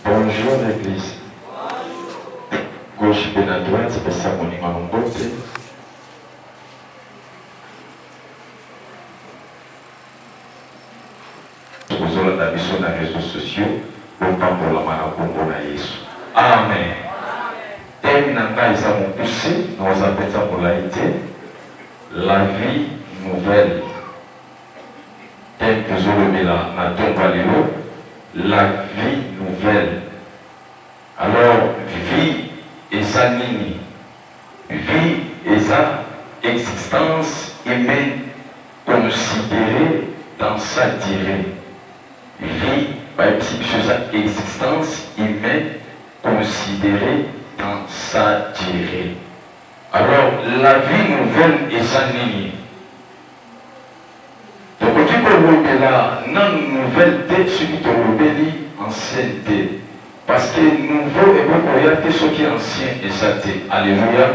Bonjour eglise gauche pe na droite pesa moninga no mbote. Tozolanda biso na reseaux sociaux bopambolama na kombo na Yesu amen. Teme na ngai eza mokuse na oza mpenza molai te la vie nouvelle Thème tozolobela na ntongo ya lelo, la vie nouvelle. Alors, vie eza nini? Vie eza existence humaine consideree dans sa duree. Vie bayebisi biso eza existence humaine consideree dans sa duree. Alors, la vie nouvelle eza nini? Tokoki kolobela nanu nouvelle te soki tolobeli ancienne te parce que nouveau ekoki koya te soki ancien eza te. Alleluia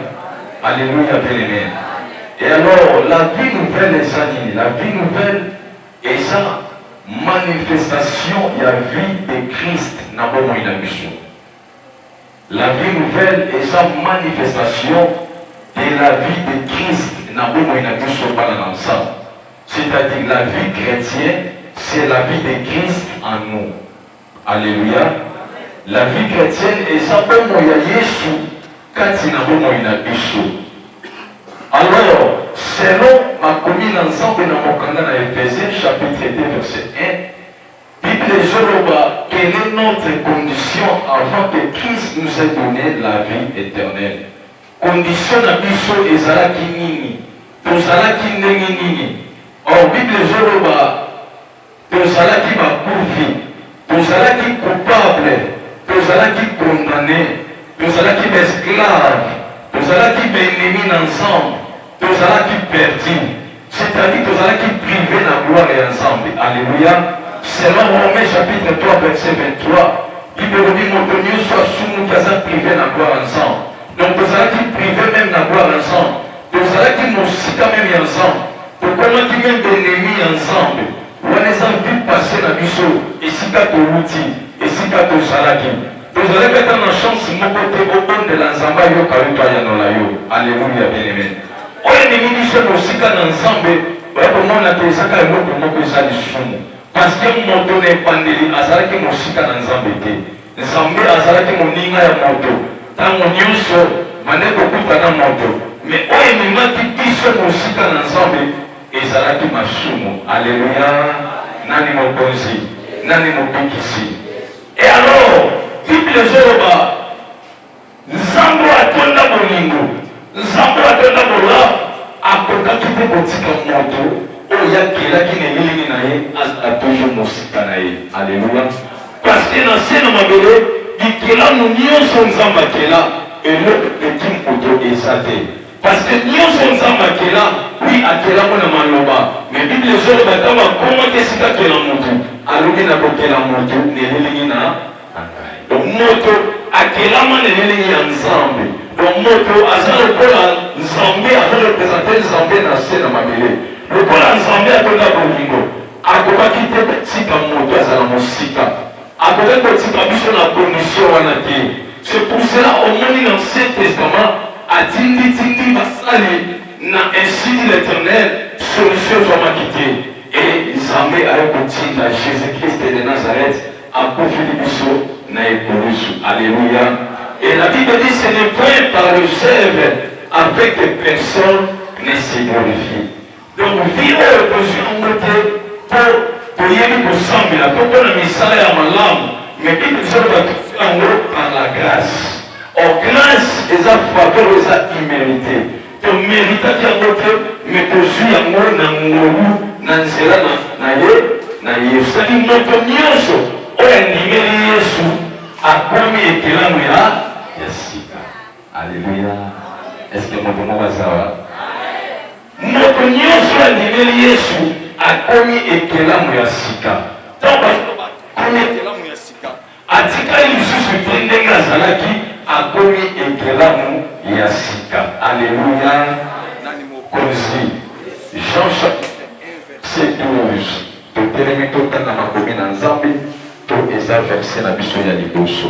Alleluia bien aime et alors la vie nouvelle eza nini? La vie nouvelle eza manifestation ya vie de Christ na bomoi na biso. La vie nouvelle eza manifestation de la vie de Christ na bomoi na biso bana na Nzambe. C'est à dire la vie chretienne c'est la vie de Christ en nous. Alleluia. La vie chretienne eza bomoi ya Yesu kati na bomoi na biso. Alors, selon makomi na Nzambe na mokanda na Ephesiens chapitre 2 verset 1, Bible ezoloba quelle est notre condition avant que Christ nous ait donne la vie eternelle. Condition na biso ezalaki nini? Tozalaki ndenge nini? Or Bible ezoloba tozalaki bakufi, tozalaki coupable, tozalaki condamne, tozalaki baesclave, tozalaki baennemi na Nzambe. Tozalaki perdu, c'est-à-dire tozalaki prive na gloire ya Nzambe. Alléluia. Selon Romains chapitre 3 verset 23, Bible elobi moto nyonso asumuki aza prive na gloire ya Nzambe. Donc tozalaki prive même na gloire ya Nzambe. Tozalaki mosika même ya Nzambe. Tokomaki même ennemi ya Nzambe. Wana eza vie passée na biso, esika towuti, esika tozalaki. Ozalaki ata na chance moko te obondela Nzambe ayoka yo to ayanola yo. Aleluya bien aime. Oyo ememi biso mosika na Nzambe oya komona te ezaka eloko moko eza lisumu parce que moto na ebandeli azalaki mosika na Nzambe te. Nzambe azalaki moninga ya moto ntango nyonso bande kokuta na moto me oyo ememaki biso mosika na Nzambe ezalaki masumu. Aleluya. Nani mokonzi? Nani mobikisi? Et alors bible ezoloba nzambe atonda bolingo nzambe atonda bola akokaki mpe kotika moto oyo yakelaki na elilingi na ye azala toujours mosika na ye aleluya parceke na se na mabele bikelamu nyonso nzambe akela eloko eki moto eza te Parce que nionso Nzambe akela, oui akela ngo na maloba. Mais Bible ezo loba tango akomaki esika akela mutu, alobi na kokela mutu na elilingi na na ngai. Donc moto akelama na elilingi ya Nzambe. Donc moto aza lokola Nzambe azo representer Nzambe na se na mabele. Lokola Nzambe atonda bolingo, akobaki te kotika moto azala mosika. Akoki kotika biso na condition wana te. C'est pour cela omoni na Ancien Testament atindi tindi basali na ainsi dit l'Eternel, solution ezwamaki te et Nzambe aye kotinda Jesus Christ de Nazareth akufeli biso na ekulusu. Alleluia. Et la Bible dit ce n'est point par les œuvres afin que personne ne se glorifie. Donc vie oyo tozwi yango te mpo toyebi kosambela to mpo na misala ya malamu mais bible ezali bato yango par la grâce or grâce eza faveur eza humilité tomeritaki yango te mais tozwi yango na ngolu na nzela na ye na yesu saki moto nyonso oyo andimeli yesu akomi ekelamu ya ya sika aleluya eske moto moko azawa Moto nyonso oyo andimeli Yesu akomi ekelamu ya sika. Ntango bazoloba akomi ekelamu ya sika, atikali lisusu te ndenge azalaki, akomi ekelamu ya sika. Aleluya! Nani mokonzi? Jean chapitre 1 verset 12. Totelemi totanga makomi na Nzambe, to eza verset na biso ya liboso.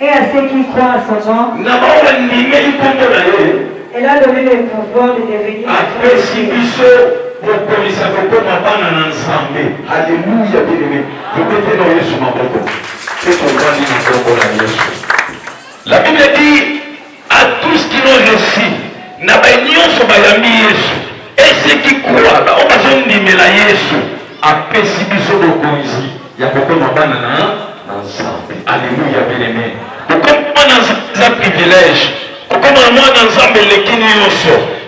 Et à ceux qui croient à son nom. Na baoyo bandimeli nkombo na ye. Elle a donné le pouvoir de devenir. Apesi biso bokonzi ya kokoma bana na Nzambe. Alléluia bien-aimé. Tobete na Yesu maboko. Mpe tovandi na nkombo na Yesu. La Bible dit A tous qui l'ont reçu, na baye nyonso bayambi Yesu, et ceux qui croient, baoyo bazondimela Yesu, apesi biso bokonzi ya kokoma bana na na Nzambe. Alleluia bien aime. Kokoma bana na Nzambe eza privilège. Kokoma mwana na Nzambe eleki nyonso.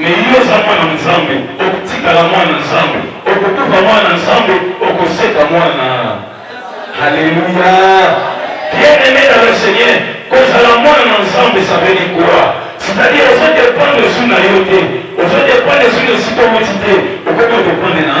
Me yo oza mwana Nzambe, okotikala mwana Nzambe, okokufa mwana Nzambe, okoseka mwana. Haleluya! Bien aimé dans le Seigneur, kozala mwana na Nzambe ça veut dire quoi? C'est-à-dire ozo dépendre sur na yo te, ozo dépendre sur esika owuti te, okoki kodependre na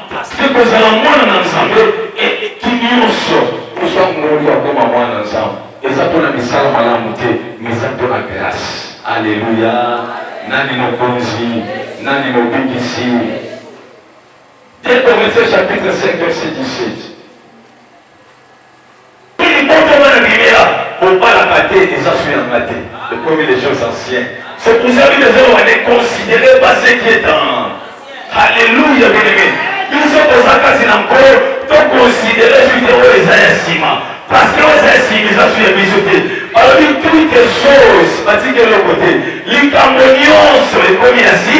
Paske kozala mwana na Nzambe eleki nyonso. Kozwa ngolu ya koma mwana na Nzambe eza mpo na misala malamu te, mais eza mpo na grâce. Aleluya! Nani mokonzi? Nani mobikisi? Te Corinthiens chapitre 5 verset 17. Mpe libota wana bilela bobalaka te eza sous ya nga te ekomi les jeux anciens c'est pour ça bino ezalo wane considere pas ce qui est en Alléluia bien-aimé biso toza kati na nkolo to considere suite oyo eza ya nsima parce que oyo eza ya nsima eza sous ya biso te balobi toutes choses batiki eloko te likambo nyonso ekomi ya si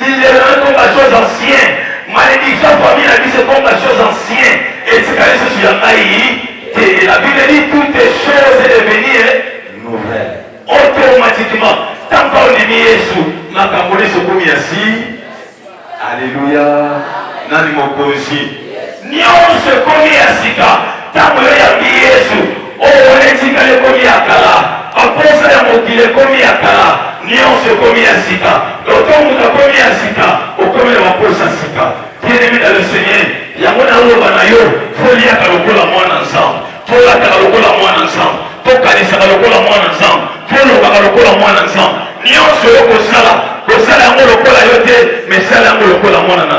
Lilelo ekoma chose ancien, malediction ya famille na biso ekoma chose ancien, etikali lisusu ya ngai te. La Bible dit toutes choses est devenue nouvelle automatiquement ntango ondimi Yesu, makambo nyonso ekomi ya si. Aleluya! Nani mokonzi? Nionso ekomi ya sika tango yo oyambi Yesu. Oyo wana etikali ekomi ya kala. Baposa ya mokili ekomi ya kala. Nionso ekomi ya sika. Donc tango moto akomi ya sika, okomi na baposa ya sika. Bien-aime dans le Seigneur, yango naloba na yo, foliaka lokola mwana Nzambe, folataka lokola mwana Nzambe, fokanisaka lokola mwana Nzambe, folobaka lokola mwana Nzambe. Nionso yo kosala, kosala yango lokola yo te, mais sala yango lokola mwana na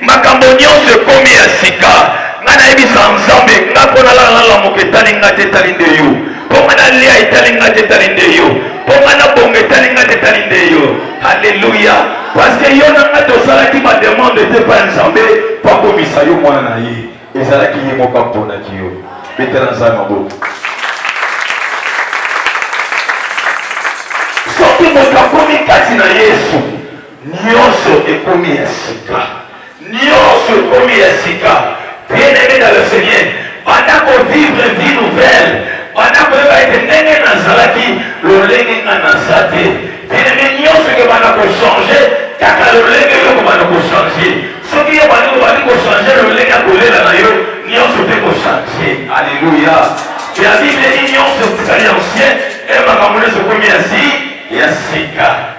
Makambo nionso ekomi ya sika nga nayebisa nzambe nga mpo nalala nalamuka etali nga te etali nde yo mpo nga nalia etali nga te etali nde yo mpo nga nabonga etali nga te etali nde yo haleluya parceke yo na nga tosalaki bademande te pa nzambe mpo akomisa yo mwana na ye ezalaki ye moko amponaki yo betela nzambe maboko soki moto akomi kati na yesu Nionso ekomi ya sika. Nionso ekomi ya sika. Bien aime dans le Seigneur, banda ko vivre vie nouvelle, banda koyeba ete ndenge nazalaki lolenge nga naza te. Bien aime, nionso ekobanda ko changer kaka lolenge yo okobanda ko changer. Soki yo bandi obandi ko changer lolenge ya kolela na yo, nionso mpe ko changer. Alléluia. Ya Biblia nionso etikali ancien, e makambo nyonso ekomi ya si ya sika.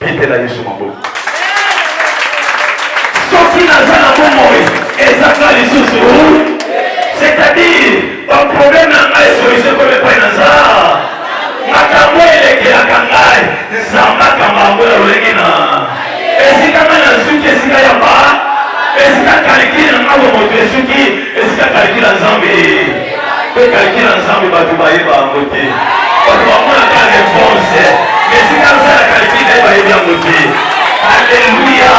Betela Yesu maboko. Soki naza na bomoi ezanga lisusu, c'est-à-dire ba problème na ngai solution ekomi epai na za makambo elekelaka ngai nzambe akamba yango ya lolenge na esika ngai nasuki esika ya ba esika kaliki na ngai bomoto esuki esika kaliki na nzambe Mpe kalaki na Nzambe bato bayeba yango te. Bato bamonaka reponse, esika nsala kalaki nde bayebi yango te. Aleluya!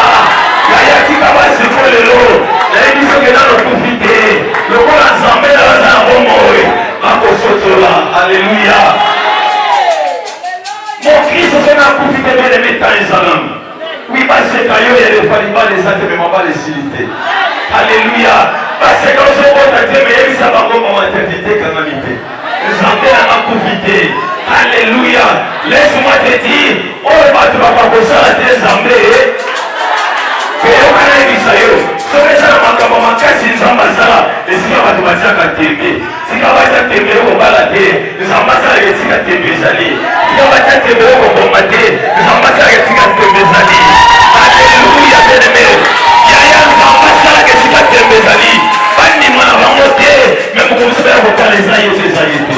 Nayaki kaba siko lelo, nayebi soki nano kufi te, lokola Nzambe na baza na bomoi, bakososola. Aleluya! Mokristo soki akufi te, bele mitani ezalama. Oui, baseka yo ya lefa libala eza te me mabala esili te. Alléluia. Baseka ozobota te me yebisa bango mama tete te kanga mite. Nzambe na makufi te. Alléluia. Laisse-moi te dire, oyo bato bakakosala te Nzambe. Koyoka na yebisa yo. Soki eza na makambo makasi Nzambe asala, esika bato batiaka tembe. Tika batya tembe yo kobala te, Nzambe asalaka esika tembe ezali. Tika batya tembe yo koboma te, Nzambe asalaka esika tembe ezali. Aleluya beneme, yaya Nzambe asalaka esika tembe ezali. Bandima na bango te, me mokomisi baya kotala eza ye te, eza ye te.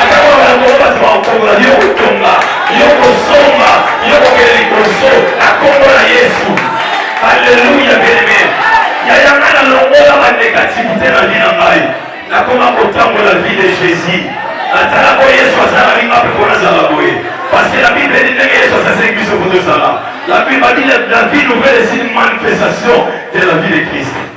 atako bato bato bakokongola yo kotonga yo kosomba yo kokende liboso na nkombo na yesu aleluya beneme yaya ngai nalongola banegativite na vi na ngai nakoma kotambola vie de jésus natala mpo yesu azalaki nga mpe mpo nazala boye paske la bible edi ndenge yesu asasengi biso mpo tozala la bible adi la vie nouvelle esi manifestation de la vie de christ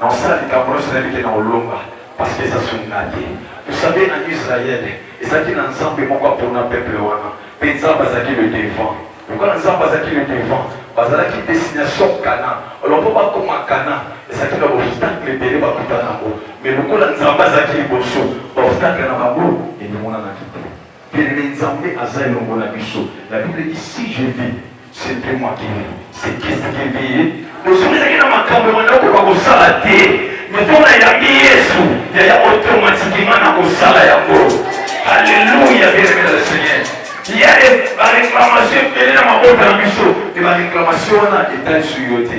Nakosala likambo nionso nayebi ke nakolonga parce que eza soni nga te. Vous savez en Israël ezalaki na nzambe moko apona peuple wana pe nzambe azalaki le devant. Lokola nzambe azalaki le devant bazalaki destination Canaan. Alors po bakoma Canaan ezalaki na ba obstacles ebele bakutana na yango mais lokola nzambe azalaki liboso ba obstacles na bango ebimonanaki te. Kelele nzambe aza elongo na biso la bible dit si je vis c'est mpe moi qui vis c'est christ qui vis ye osoki ezaki na makambo ya banda okoka kosala te mpo na yambi yesu yaya automatiquement na kosala yango alleluia bieneme na le seigneur ya bareklamation ebele na mabota na biso e bareklamation wana etali su yo te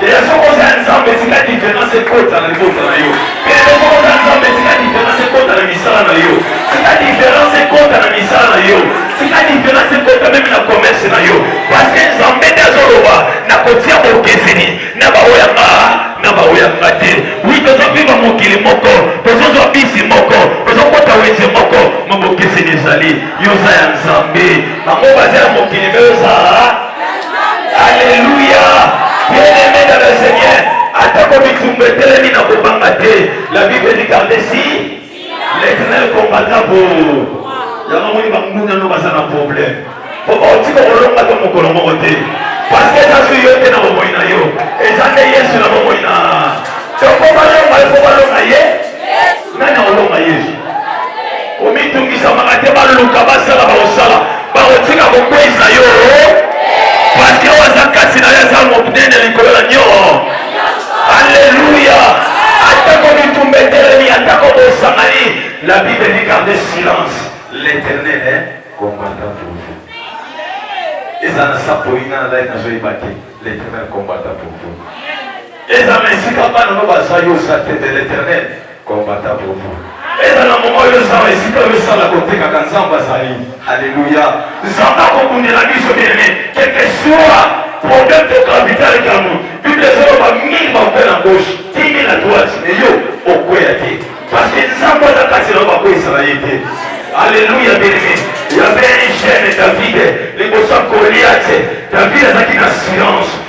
Lelo soko oza ya Nzambe etika diference ekota na libota na yo. Mpe lelo soko oza ya Nzambe etika diference ekota na misala na yo. Tika diference ekota na misala na yo. Tika diference ekota meme na commerce na yo. Parce que Nzambe nde azoloba nakotia bokeseni na baoyo ya nga na baoyo ya nga te. Oui, tozoviva mokili moko, tozozwa bisi moko, tozokota wenze moko, mabokeseni ezali. Yo oza ya Nzambe, bango baza ya mokili mpe oza Alléluia. Bien-aimé dans le Seigneur, atako bitumba etelemi na kobanga te. La Bible dit garde si l'Éternel combattra pour vous. Yango moni banguna no baza na problème. Po baotika kolonga to mokolo moko te. Parce que eza su yo te na bomoi na yo. Eza nde Yesu na bomoi na. Donc po balonga ye, po balonga ye. Nani akolonga Yesu? Komitungisamaka te baluka basala bakosala bakotika kokweyisa yo paske oyo aza kati na yo aza monene likolo na nio aleluya atako mitumba etelemi atako bosangani la bible dit garde silence l'éternel hein combattant pour vous eza na sapoina na ngai nazoyeba te l'éternel combattant pour vous eza na esika bana no baza yo sa te de l'éternel Combattant pour vous. Ezala moma oyo ezala esika oyo esala kotekaka Nzambe azali. Alléluia. Nzambe akobundela biso bien aimé. Quel que soit problème de gravité avec l'amour. Bible ezoloba mingi bakwe na gauche, timi na droite, mais yo okweya te. Parce que Nzambe aza kati na yo bakweyisaka ye te. Alléluia bien aimé. Il y avait un jeune David, liboso ya Goliath, David azalaki na silence.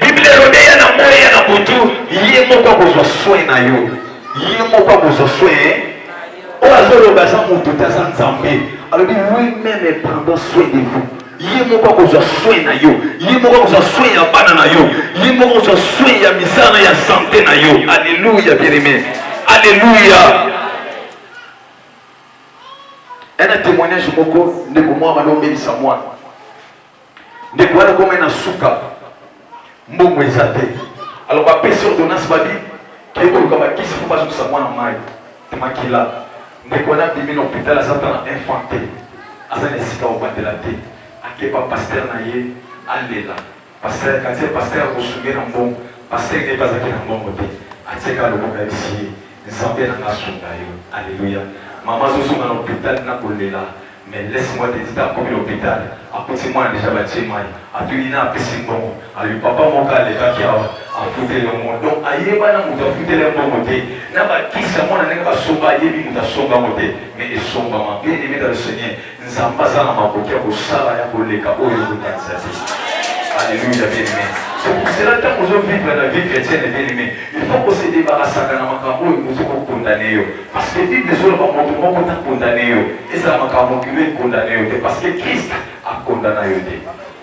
Biblia elobi ya na moi ya na butu, ye moko akozwa soin na yo, ye moko akozwa soin oyo azoloba aza moto te aza nzambe alobi lui meme prendant soin de vous ye moko akozwa soin na yo ye moko akozwa soin ya bana na yo ye moko akozwa soin ya misala ya sante na yo alleluya bien-aimé alleluya ena témoignage moko ndeko mwa bana omelisa mwana ndeko wana komai na suka mbongo eza te alors bapesi ordonnance babi kei koluka bakisi mpo bazokisa mwana mai te makila ndeko wana abimi na hôpital aza ata na infant te aza na esika obandela te akeba paster na ye alela paster katie paster akosunge na mbongo paster nde bazaki na mbongo te atika loboko ya bisi ye nzambe na ngasunga yo aleluya mama azozonga na hôpital na kolela Mais laisse moi te dire akomi l'hopital akuti mwana dejà batie mayi atuni na apesi mbongo alobi papa moko alekaki awa afuteli yo mbongo donc ayeba na moto afuteli ye mbongo te na bakisi ya mwana ndenge basomba ayebi moto asomba yango te mais esombama bien aimé dans le seigneur nzambe aza na makoki ya kosala ya koleka oyo ekokanisa te Alléluia, bien-aimé. C'est pour cela que nous vivons la vie chrétienne, bien-aimé. Il faut qu'on se débarrasse de la makambo et nous sommes condamnés. Parce que Bible ezoloba moto moko ta condamne yo, ezala makambo kilo ekondane yo te, parce que Christ akondana yo te.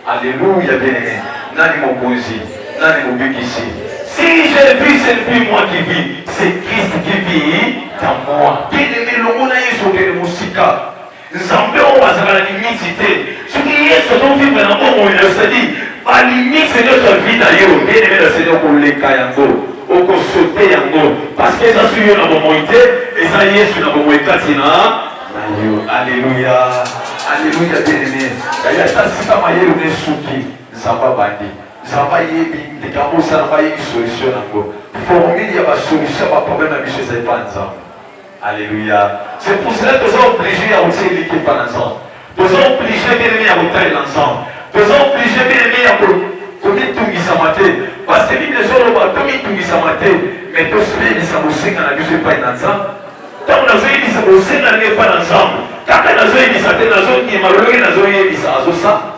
Alléluia bien aimé. Nani mokonzi? Nani mobikisi? Si je vis, ce n'est plus moi qui vis, c'est Christ qui vit en moi. Bien aimé, longola Yesu okende mosika. Nzambe oyo azalaka na limite te. Soki Yesu azovivre na bomoi na sadi, balimite nyonso ya vi na yo bien aime na Seigneur koleka yango, okosote yango parce que eza soki yo na bomoi te, eza Yesu na bomoi kati na na yo. Aleluya, aleluya bien aime. Yaya ata sika mayele na esuki, Nzambe abandi, Nzambe ayebi ndeke yango osala, ayebi solution na yango. Formule ya ba solution ya ba problème na biso eza epai ya Nzambe. Alleluia. C'est pour cela que nous sommes obligés ya kotia eliki epai na Nzambe. Toza oblige bien aimé ya kotalela Nzambe. Toza oblige bien aimé ya komitungisama te. Parce que Bible ezoloba tomitungisama te, mais tosilelisa bosenga na biso epai na Nzambe. Ntango nazoyebisa bosenga na ngai epai na Nzambe, kaka nazoyebisa te, nazondima lolenge nazoyebisa azosala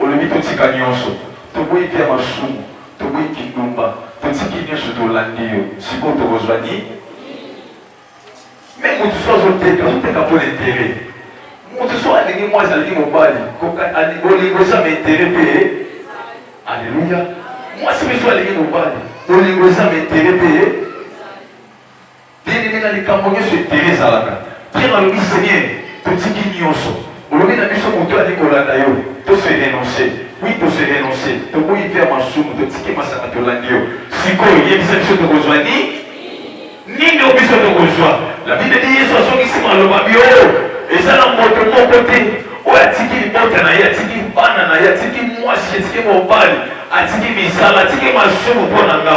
Olobi totika nionso, toboyi vie ya masumu, toboyi kindumba, totiki nionso tolandi yo, sikoyo tokozwa nini? Meme mutu soki azoteka, azoteka mpo na interet. Mutu soki alingi mwasi, alingi mobali, bolingo eza ma interet mpe ye. Aleluya! Mwasi mpe soki alingi mobali, bolingo eza ma interet mpe ye. Bien aimé na likambo nyonso interet ezalaka. Pierre alobi seigneur totiki nyonso olobi na biso moto oyo alingi kolanda yo to se renoncer oui to se renoncer toboyi vie ya masumu totiki masanga tolandi yo sikoyo yebisa biso tokozwa nini nini oyo biso tokozwa la bible dit yesu azongisi maloba bio eza na moto moko te oyo atiki libota na ye atiki bana na ye atiki mwasi atiki mobali atiki misala atiki masumu mpo na nga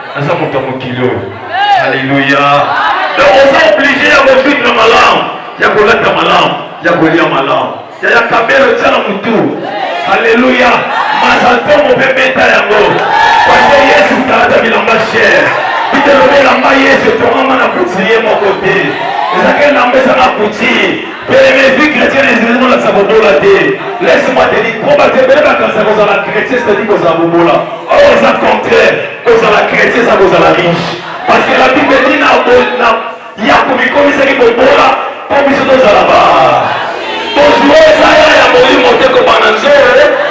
naza moto ya mokili oyo aleluya donc oza oblige ya kovivre malamu ya kolata malamu ya kolia malamu yaya kabelo tya na motu aleluya mazaltomo mpe beta yango pase yesu talata bilamba chere bitelobelamba yesu etongama na kuti ye moko te ezaka elamba ezanga kuti Televezi chrétien ezali kolakisa bobola te. Laisse moi te dire combat te bele bakanisa kozala chrétien c'est-à-dire kozala bobola. Or eza contraire kozala chrétien eza kozala riche. Parce que la Bible dit na na ya komikomisaki bobola mpo biso tozala ba bozwa eza ya ya molimo te kobanda nzoro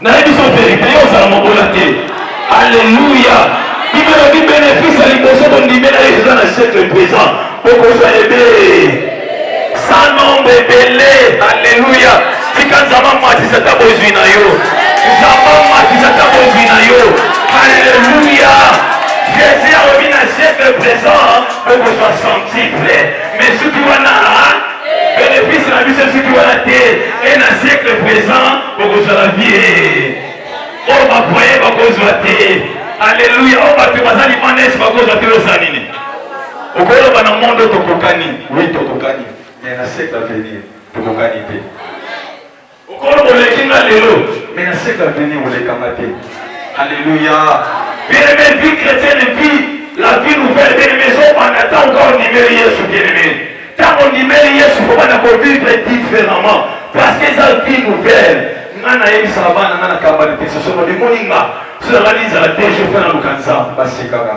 Nayebi so verite yo ozala mobola te. Alleluia. Biblia elobi benefisi ya liboso bondimela ye eza na siècle présent. Bokozwa ebele. Sa nombre ebele. Alleluia. Tika Nzambe amatisa ata bozwi na yo. Nzambe amatisa ata bozwi na yo. Alleluia. Jésus alobi na siècle présent bokozwa centuple. Mais soki wana Benefice na biso esiki wana te e na siècle présent bokozala vie oyo bapoye bakozwa te aleluya oyo bato baza libanda yesu bakozwa te oza nini okoloba na monde tokokani wi tokokani mais na siècle avenir tokokani te Okolo oleki nga lelo, mais na siècle à venir oleka nga te. Alléluia. Bien aimé, vie chrétienne et puis la vie nouvelle, bien aimé, so banda tant encore ndimeli Yesu bien aimé. Tant on ndimeli Yesu, faut banda ko vivre différemment parce que ça vie nouvelle. Nga na yebisaka bana nga na kambani te, soso bamoni nga, soki nalali nzala te, je fais na luka Nzambe, basekaka.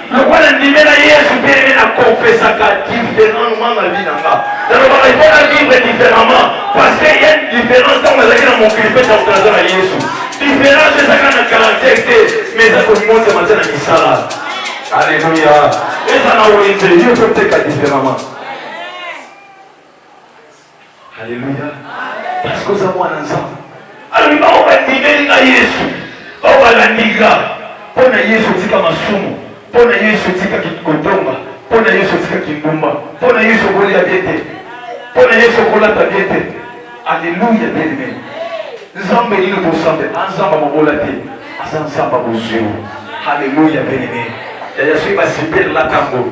lokola ndimela yesu mpe ene na confesaka différemment na vie na nga nalobaka ifo na vivre différemment parce que ye différence ntango azalaki na mokili mpe ntango naza na yesu différence ezaka na caractère te mais eza komonzema te na misala alleluya eza na wenze yo mpe oteka différemment Alléluia. Parce que oza mwana Nzambe. Alobi bango bandimeli nga Yesu, bango balandi nga. Mpo na Yesu otika masumu, mpo na Yesu otika kotonga, mpo na Yesu otika kindumba, mpo na Yesu okolia bie te, mpo na Yesu okolata bie te. Alléluia bien aimé. Nzambe nini tosambe? Anzamba ah, mobola te, aza Nzamba bozwi. Alléluia bien aimé. Yaya soki basipeli latango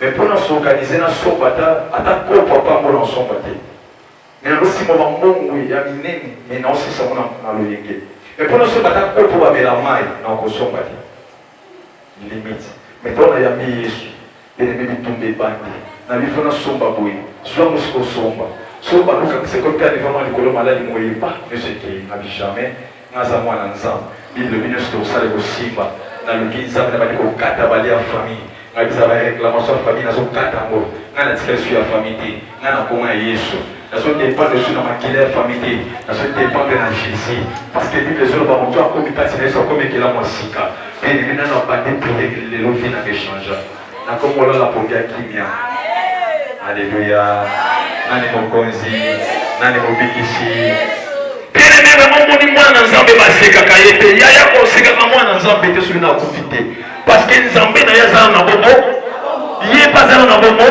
Mais pour na s'organiser na somba ata ata kopo ata ngo na somba te. Mais na kosimba ba mbongo ya minene mais na osisa ngo na loyenge. Mais pour na somba ata kopo ba mela mai na kosomba te. Limite. Mais to na yambi Yesu. Ene mimi tumbe bande. Na bifo na somba boye. Soit mo siko somba. So ba luka se kopia devant moi likolo malali moye pas. Ne se ke na jamais Nga za mwana nzambe bible elobi nionso tokosala ekosimba naluki nzambe nabandi kokata ba lia famille nga biza ba reclamation ya famille nazo kata yango nga natika esu ya famille te nga na kombo ya yesu nazo dependre esu na makila ya famille te nazo dependre na jesus parce que bible ezoloba moto akomi kati na yesu akomi ekelamu ya sika bien aime nano abandi priere lelo vie nanga echangea Na kombo la pongi ya kimia. Aleluya. Nani mokonzi? Nani mobikisi? Bien-aimé, bamomoni mwana Nzambe basekaka ye te. Yaya kosekaka mwana Nzambe te soki nakufi te. Parce que Nzambe na ye azala na bomo. Ye mpe azala na bomo.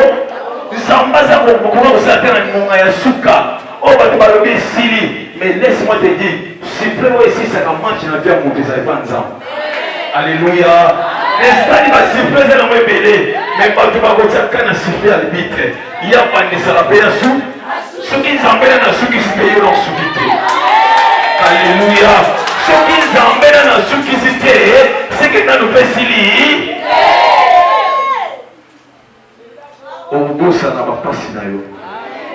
Nzambe aza kokoka kosala te na ngonga ya suka. Oh, bato balobi esili mais laisse moi te dire supreme oyo esisaka match na vie ya moto ezali mpa nzambe alleluya esali basuprese nango ebele me bato bakotiaka na supe ya libitre ye abandisaka mpe ya su soki nzambe na nasukisi mpe yo nasuki te alleluya soki nzambe na nasukisi te seke nanu mpe esili okobosana bapasi na yo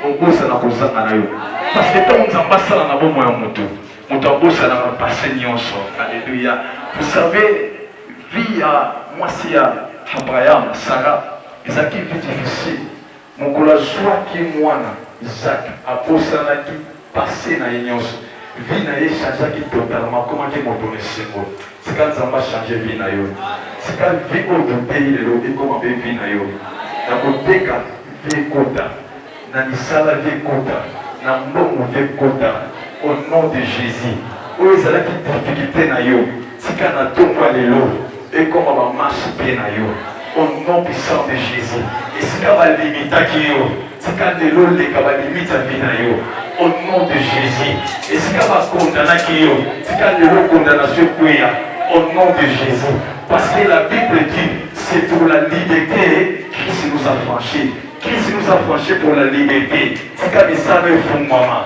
okobosana kozanga na yo parce que ntango nzambe asala na bomoi ya moto moto abosanaka pase nyonso alleluya vous savez vie ya mwasi ya abraham sara ezalaki vie difficile mokolo azwaki mwana isak abosanaki Passe na ye nionso, vie na ye echangeaki totalement, akomaki moto na esengo. Tika Nzambe a changer vie na yo. Tika vie oyo toteyi lelo ekoma pe vie na yo. Na koteka, vie ekota. Na misala, vie ekota. Na mbongo, vie ekota. Au nom de Jesus. Oyo ezalaki difficulte na yo. Tika na ntongo ya lelo ekoma ba marche pied na yo au nom puissant de Jesus. Esika ba limitaki yo, tika lelo leka ba limite ya vie na yo au nom de Jesus. Esika ba condamnaki yo, tika lelo condamnation ekweya au nom de Jesus. Parce que la Bible dit, c'est pour la liberté Christ nous a franchi. Christ nous a franchi pour la liberté. Tika misala efungwama.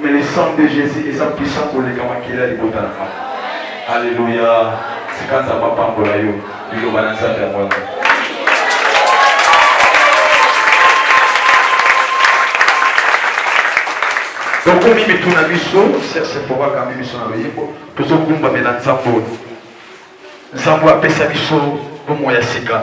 Mais le sang de Jesus eza puissant koleka makila libota na ngai. Alléluia. Tika Nzambe apambola yo. Liloba na Nzambe yango wana. tokomi mitu na biso serse mpo akambi biso na loyembo tozogumbamela nzambo nzambo apesa biso bomoi ya sika